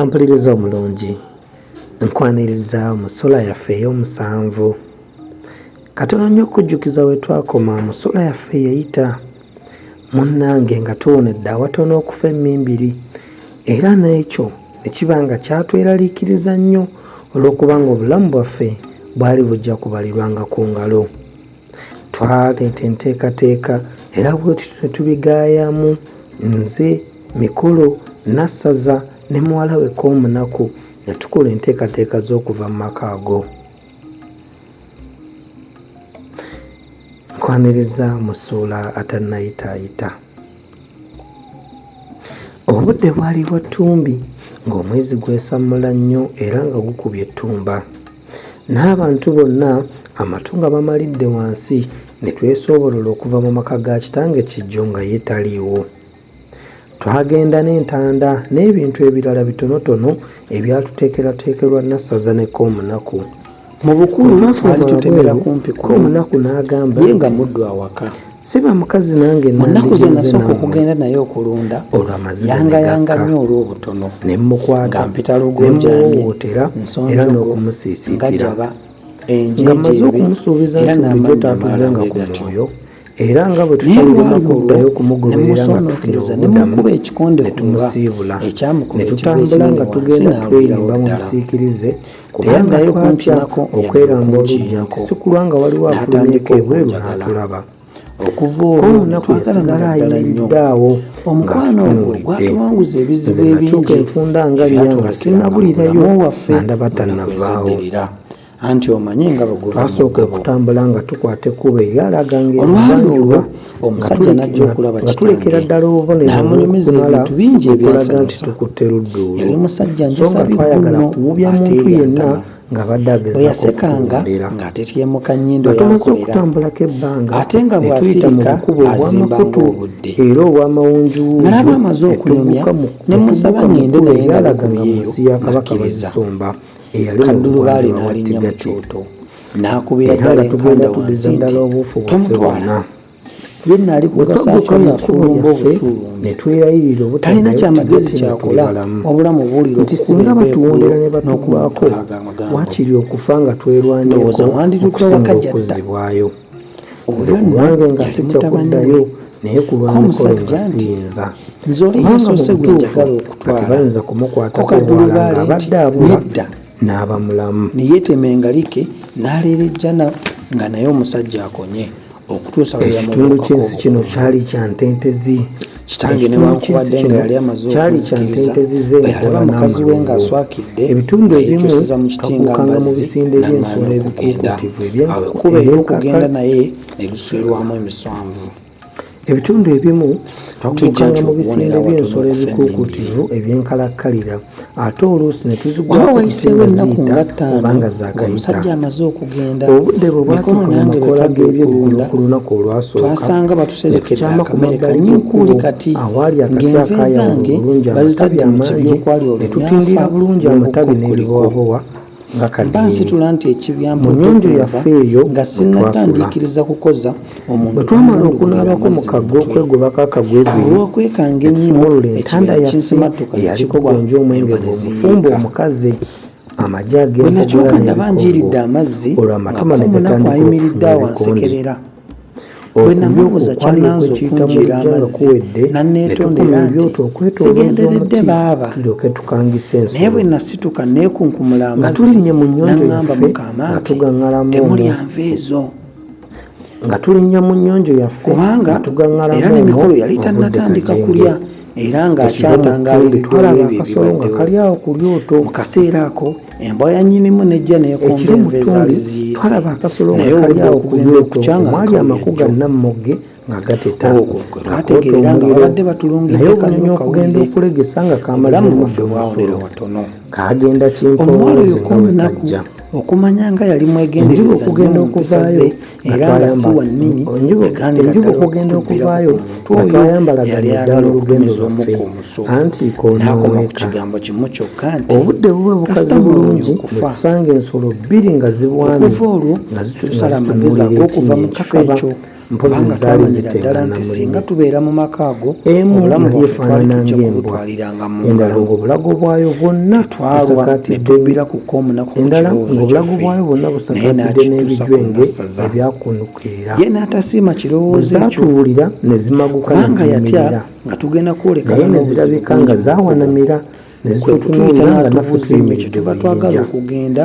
ampuliriza omulungi nkwaniriza mu sula yaffe ey'omusanvu katono nnyo okujjukiza we twakoma mu sula yaffe yeyita Munnange nga tuwonedde awatono okufa emmimbiri era n'ekyo ne kiba nga kyatweraliikiriza nnyo olw'okuba ng'obulamu bwaffe bwali bujja kubalirwanga ku ngalo. Twaleeta enteekateeka era bwe tutyo ne tubigaayamu nze, Mikolo, Nassaza ne muwala we Koomunaku ne tukola enteekateeka z'okuva mu maka ago. Nkwanirizza mu ssuula atannayitaayita. Obudde bwali bwa ttumbi ng'omwezi gwesammula nnyo era nga gukubye ettumba. N'abantu bonna amatu nga bamalidde wansi ne twesoobolola okuva mu maka ga kitange Kijjo nga ye taliiwo. twagenda n'entanda n'ebintu ebirala bitonotono ebyatuteekerateekerwa nassaza nekka omunaku mu bukulu twali tutemera kumpi ku omunaku n'agamba ye nga muddu awaka siba mukazi nange mu nnaku ze nasooka okugenda naye okulunda olwamaziyangayanga nnyo olw'obutono ne mmukwata mpita lugonjamyewootera era n'okumusiisiitira nga maze okumusuubiza nti bulijjo taatulanga ku mwoyo era nga bwe tutayinakuddayo kumugoberera nga tufuna obudamu ne tumusiibula ne tutambula nga tugenda tweyimba mu busiikirize kubanga kwatya okweramba olujja nti sikulwa nga waliwo afulumyeko ebweru n'atulaba okuva olwo netwasigala ayimiridde awo omukwano ogwo gwatuwanguza ebizibu ebingi enfunda nga lyanga sinabulirayo waffe nga ndabatanavaawo anti omanyi nga bweguvasooka okutambula nga tukwata ekkubo eryalaga ngaolwali olwo omusajja najja okulaba kitulekera ddala obuboneronamulimiza ebintu bingi ebyalaga nti tukutte ludduulu yali musajja njasabigguno kuwubya muntu yenna ngabaddeagezaoyasekanga ng'atetyemuka nnyindo yatumaze okutambulako ebbanga ate nga bwasirika azimbanga obudde era obwamawunjuwunjunalaba amaze okunyumya ne musaba ngende naye nga bikuyeyo nakkiriza kaddulubaale n'alinnya mu kyoto n'akubira ddala enkanda wansi nti tomutwala ye naali kugasaakyonasulumba obusuulu ne twerayirira obutalina kyamagezi kyakola wabula mubuuliro nti singa batuwondera ne batukwako wakiri okufa nga twerwanyeokusinga okuzibwayo nze ku bwange nga sitya kuddayo naye ku lwamukolo nga siyinza kubanga mu butuufu kati bayinza kumukwatako omwala nga abadde abula n'aba mulamu ne yeetema engalike n'aleera ejjana nga naye omusajja akonye okutuusa ekitundu ky'ensi kino kyali kya ntentezi kitange newankubadde nga yali amaze okunzikiriza bwe yalaba mukazi we ng'aswakidde nga yekyusiza mu kiti nga mbazzi namaana okugenda awo ekkuba ery'okugenda naye ne luswirwamu emiswanvu ebitundu ebimu twakuukanga mu bisinde by'ensolo ebikuukuutivu ebyenkalakkalira ate oluusi ne tuzigwaba wayiseewo ennaku nga ttaano ng'omusajja amaze okugenda obudde bwe bwatuuka mu makola g'ebyeggulo ku lunaku olwasooka twasanga batuserekedde akamere kanyukuuli kati ng'enva ezange bazitadde mu kibya okwali olunyafa n'obukokkoliko mba nsitula nti ekibyamuyonjo yaffe eyo nga sinnatandiikiriza kukoza omuntu bwe twamala okunaabako mu kagga okwegobako akagwegweolwokwekanga ennyo ekibira kinsimattuka yaliko gwenja omwenge gwomufumba omukazi amagi ageenakyuka nabanjiiridde amazzi olwo amatama negatandika okufuna ebikonde bwenamubuuza kyananze okunjira amazzi naneetondera nti sigenderedde baaba naye bwe nasituka neekunkumula amazzi nangamba mukaama nti temulya nva ezo nga tulinnya mu nnyonjo yaffe kubanga era n'emikolo yali tannatandika kulya era ng'akyatangaala ebibyo ebyo ebibaddewo mu kaseera ako embwa ya nyinimu nejja neekomba enva ezaali ziyisenaye oludda okugenda okukyanga mwali amaku ga nammogge nga gatetangategeera nga babadde batulunginaye obunyonyi okugenda okulegesa nga kamaze mudde musulo kagenda kimpoozi nga wekajja okumanya nga yali mwegendereza okugenda okuvaayo era nga si wa nnimi enjuba okugenda okuvaayo nga twayambala ddala eddala olugendo lwaffe anti konoweeka obudde buba bukaze bulungi netusanga ensolo bbiri nga zibwamye nga zitusalamagezi ag'okuva mu kifo ekyo mpozi zaali ziteekana mu singa tubeera mu maka ago emu yali efaanana ng'embwa nga mu ngalo ng'obulago bwayo bwonna twalwanetubira ku koomunaku endala ng'obulago bwayo bwonna busakaatidde n'ebijwenge ebyakunukirira ye n'atasiima kirowoozo zaatuwulira ne zimaguka nanga yatya nga tugenda kwolekana ne zirabika nga zaawanamira ne zitutunuulira nga nafutuimekyetuva twagala okugenda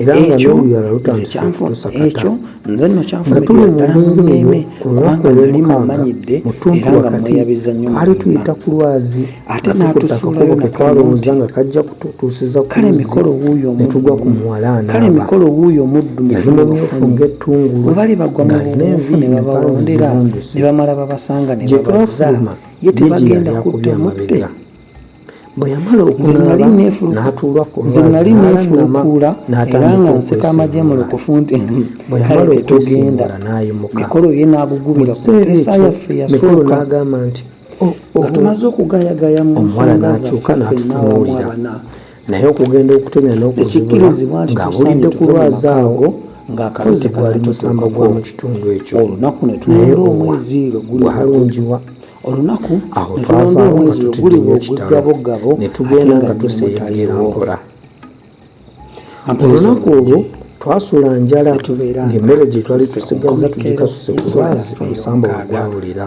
era nga n'oluyala lutandise okutusakata nga tuli mu mbeera eyo ku lunaku olw'omukaaga mu ttuntu wakati twali tuyita ku lwazi ate n'atusuulayo ke twalowooza nga kajja kututuusiza ku luzzi ne tugwa ku muwala anaaba yali mumyufu ng'ettungulu ng'alina envi empanvu zirunduse gye twafuluma ye gyeyali akubye amabega bwe yamala okunaaba n'atuula ku nze nali neefulukuula era nga nseka amagye mu lukufu nti kale tetugenda mikolo ye n'agugubira ku mpeesa yaffe yasooka agamba nti oh, oh, nga tumaze okugayagaya mu nsonga zaffe fenna wamu abana naye okugenda okutemya n'okukikkirizibwa nti ng'awulidde ku lwazi awo ng'akaluzi gwali musamba gwa mu kitundu ekyo olunaku ne tunaera omwezi lwe guli halungiwa olunaku awo twava omwezi lwe guli bwogugabogabo ne tugenda nga tuseeyagira mpola olunaku olwo twasula njala ng'emmere gye twali tusigazza tugikasuse ku lwazi omusamba wagwawulira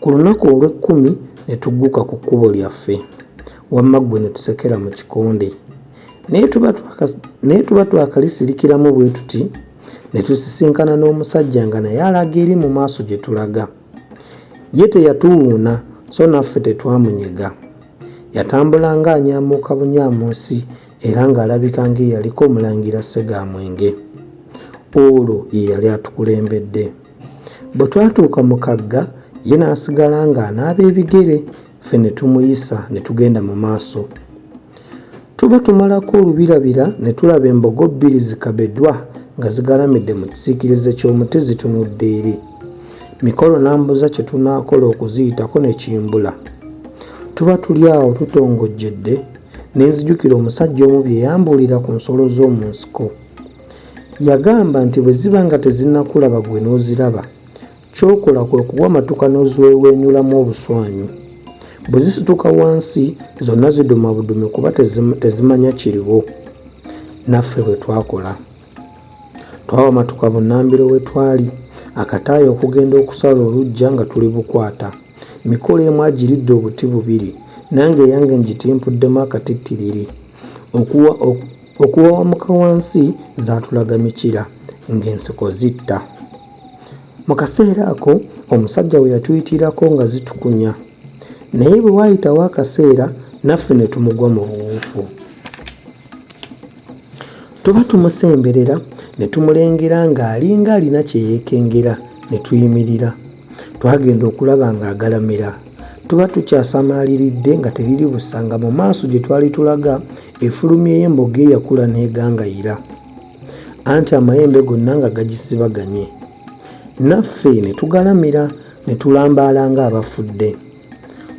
Ku lunaku olw'ekkumi ne tugguka ku kkubo lyaffe, wamma ggwe ne tusekera mu kikonde. Naye tuba twakalisirikiramu bwe tuti ne tusisinkana n'omusajja nga naye alaga eri mu maaso gye tulaga. Ye teyatuwuuna so naffe tetwamunyega. Yatambulanga anyaamuuka bunyaamuusi era ng'alabika ng'eyaliko Omulangira Ssegaamwenge. Olwo ye yali atukulembedde. Bwe twatuuka mu kagga, ye n'asigala ng'anaaba ebigere, ffe ne tumuyisa ne tugenda mu maaso. Tuba tumalako olubirabira ne tulaba embogo bbiri zikabedwa nga zigalamidde mu kisiikirize ky'omuti zitunudde eri. Mikolo n'ambuza kye tunaakola okuziyitako ne kimbula. Tuba tuli awo tutongojjedde ne nzijukira omusajja omu bye yambuulira ku nsolo z'omu nsiko. Yagamba nti bwe ziba nga tezinnakulaba gwe n'oziraba, ky'okola kwe kuwamatuka n'ozweweenyulamu obuswanyu. Bwe zisituka wansi zonna ziduma budumi kuba tezimanya kiriwo. Naffe bwe twakola. Twawamatuka bunnambiro we twali, akataayi okugenda okusala oluggya nga tuli bukwata. Mikolo emu agiridde obuti bubiri, nange eyange ngitimpuddemu akatittiriri. Okuwa, oku, Okuwawamuka wansi zaatulaga mikira ng'enseko zitta. Mu kaseera ako omusajja we yatuyitirako nga zitukunya, naye bwe waayitawo akaseera naffe ne tumugwa mu buwuufu. Tuba tumusemberera ne tumulengera ng'alinga alina kye yeekengera ne tuyimirira. Twagenda okulaba ng'agalamira. Tuba tukyasamaaliridde nga teriri busanga mu maaso gye twali tulaga efulumyeyo emboga eyakula n'egangayira anti amayembe gonna nga gagisibaganye naffe ne tugalamira ne tulambaala ng'abafudde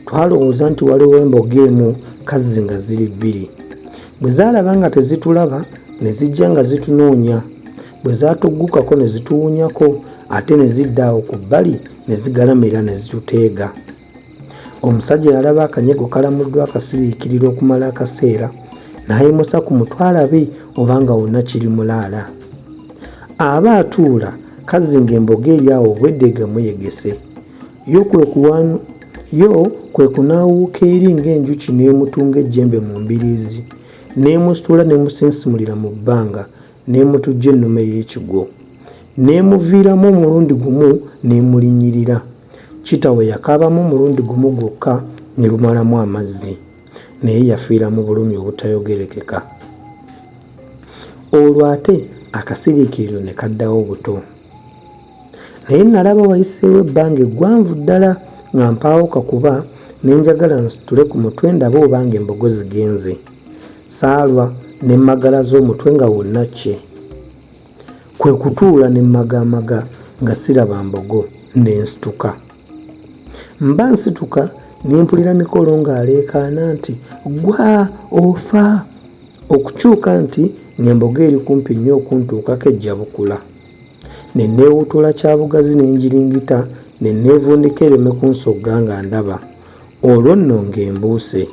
twalowooza nti waliwo emboga emu kazzi nga ziri bbiri bwe zaalaba nga tezitulaba ne zijja nga zitunoonya bwe zaatuggukako ne zituwunyako ate ne zidda awo ku bbali ne zigalamira ne zituteega omusajja yalaba akanyego kalamuddwa akasiriikirira okumala akaseera n'ayimusa ku mutwe alabe obanga wonna kiri mulaala aba atuula kazinga emboga eri awo obwedde egamuyegese yo kwe kunaawuuka eri ng'enjuki n'emutunga ejjembe mu mbiriizi n'emusitula n'emusinsimulira mu bbanga n'emutujja ennume y'ekigwo n'emuviiramu omulundi gumu n'emulinnyirira ne Kitawe yakaabamu omulundi gumu gwokka ne lumalamu amazzi, naye yafiira mu bulumi obutayogerekeka. Olwo ate akasiriikiriro ne kaddawo buto. Naye nnalaba wayiseewo ebbanga eggwanvu ddala nga mpaawo kakuba ne njagala nsitule ku mutwe ndabe obanga embogo zigenze. Saalwa ne mmagalaza omutwe nga wonna kkye. Kwe kutuula ne mmagaamaga nga siraba mbogo ne nsituka. Mba nsituka ne mpulira Mikolo ng'aleekaana nti, Ggwa! Ofa! Okukyuka nti ng'embogo eri kumpi nnyo okuntuukako ejja bukula. Ne nneewuutula kya bugazi ne ngiringita ne nneevundika ereme kunsogga nga ndaba. Olwo nno ng'embuuse.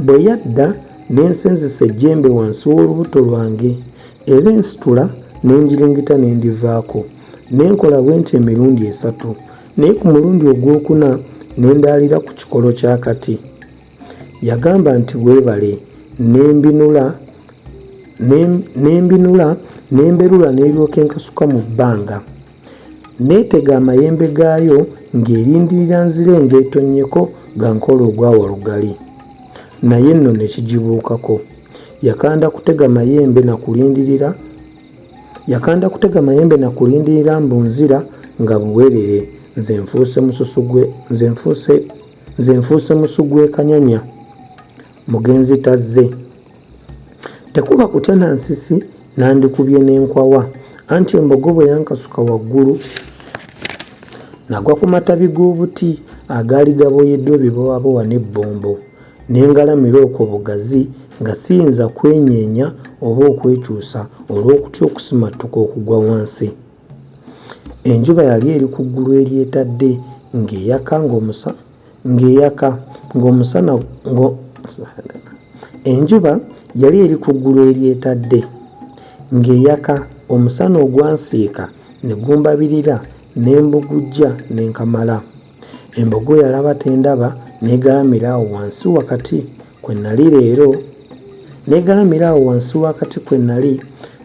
bwe yadda ne nsenzesa ejjembe wansi w'olubuto lwange era ensitula ne ngiringita ne ndivaako ne nkola bwe nti emirundi esatu naye ku mulundi ogwokuna ne ndaalira ku kikolo kya kati yagamba nti weebale ne mbinula ne mbinula ne mberula n'eryoka enkasuka mu bbanga Neetega amayembe gaayo ng'erindirira nzire ngeetonnyeko nga nkola ogwa Walugali. Naye nno ne kigibuukako. Yakanda kutega mayembe na kulindirira yakanda kutega mayembe na kulindirira mbu nzira nga buwerere nze nfuuse mususu gwe nze nfuuse nze nfuuse musu gw'ekanyanya mugenzi tazze. tekuba kutya na nsisi nandikubye n'enkwawa anti embogo bwe yankasuka waggulu nagwa ku matabi g'obuti agaali gaboyeddwa ebibowabowa n'ebbombo ne ngalamira okwo bugazi nga siyinza kwenyeenya oba okwekyusa olw'okutya okusimattuka okugwa wansi enjuba yali eri ku ggulu eryetadde ng'eyaka ng'omusa ng'eyaka ng'omusana ngo enjuba yali eri ku ggulu eryetadde ng'eyaka omusana ogwansiika ne gumbabirira ne mbugujja ne nkamala embogo yalaba tendaba n'egalamira awo wansi wakati kwe nali leero n'egalamira awo wansi wakati kwe nali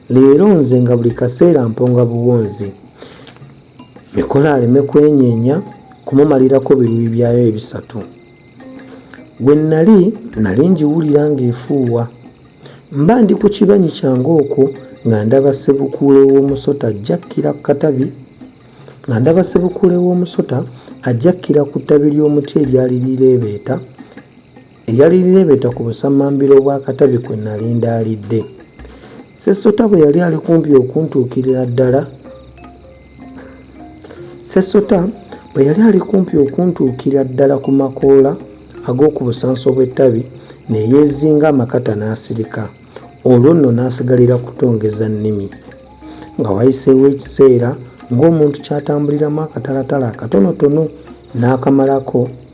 leero nze nga buli kaseera mponga buwonzi Mikolo aleme kwenyeenya kumumalirako biruyi byayo ebisatu. We nnali nnali ngiwulira ng'efuuwa. Mba ndi ku kibanyi kyange okwo nga ndaba ssebukuule w'omusota ajja kkira ku katabi nga ndaba ssebukuule w'omusota ajja kkira ku ttabi ly'omuti eryali lireebeeta eyali lireebeeta ku busammambiro bwa katabi kwe nali ndaalidde sesota bwe yali ali kumpi okuntuukirira ddala sesota bwe yali ali kumpi okuntuukira ddala ku makoola ag'oku busanso bw'ettabi ne yeezinga amakata n'asirika olwo nno n'asigalira kutongeza nnimi nga wayiseewo ekiseera ng'omuntu kyatambuliramu akatalatala akatonotono n'akamalako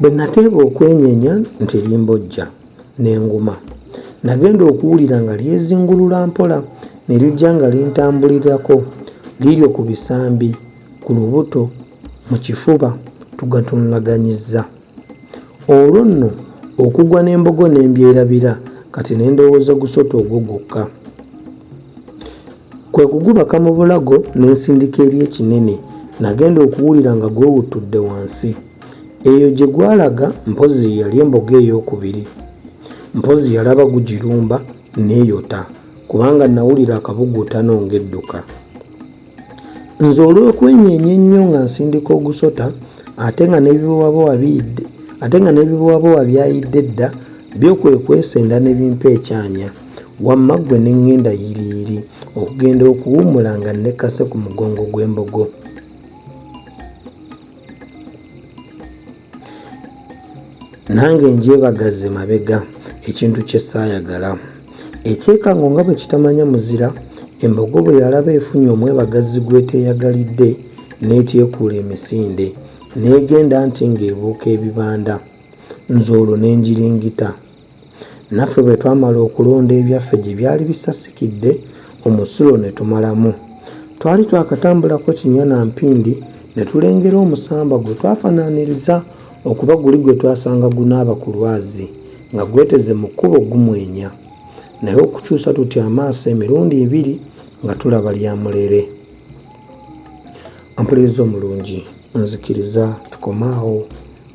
Bwe nateeba okwenyenya nti limbojja ne nguma, nagenda okuwulira nga lyezingulula mpola ne lijja nga lintambulirako liryo ku bisambi, ku lubuto, mu kifuba tugatunulaganyizza. Olwo nno okugwa n'embogo ne mbyerabira kati ne ndowooza gusota ogwo gwokka. Kwe kugubaka mu bulago ne nsindika eri ekinene. Nagenda okuwulira nga gwewuttudde wansi. Eyo gye gwalaga mpozzi ye yali emboga eyookubiri. Mpozzi yalaba gugirumba n'eyota kubanga nawulira akabuguutano ng'edduka. Nze olw'okwenyeenya ennyo nga nsindika ogusota ate nga n'ebibowabowa biyidde ate nga n'ebibowabowa byayidde dda byo kwe kwesenda ne bimpa ekyanya. wamma ggwe ne ŋŋenda yiriiri okugenda okuwummula nga nnekkase ku mugongo gw'embogo nange ngyebagazze mabega ekintu kye saayagala ekyekango nga bwe kitamanya muzira embogo bwe yalaba efunye omwebagazi gw'eteeyagalidde n'etyekuula emisinde n'egenda nti ng'ebuuka ebibanda nze olwo n'enjiringita Naffe bwe twamala okulonda ebyaffe gye byali bisasikidde omusulo ne tumalamu. Twali twakatambulako kinya na mpindi ne tulengera omusamba gwe twafanaaniriza okuba guli gwe twasanga gunaaba ku lwazi nga gweteze mu kkubo gumwenya naye okukyusa tutya amaaso emirundi ebiri nga tulaba lya mulere. Ampuliriza omulungi nzikiriza tukomaawo.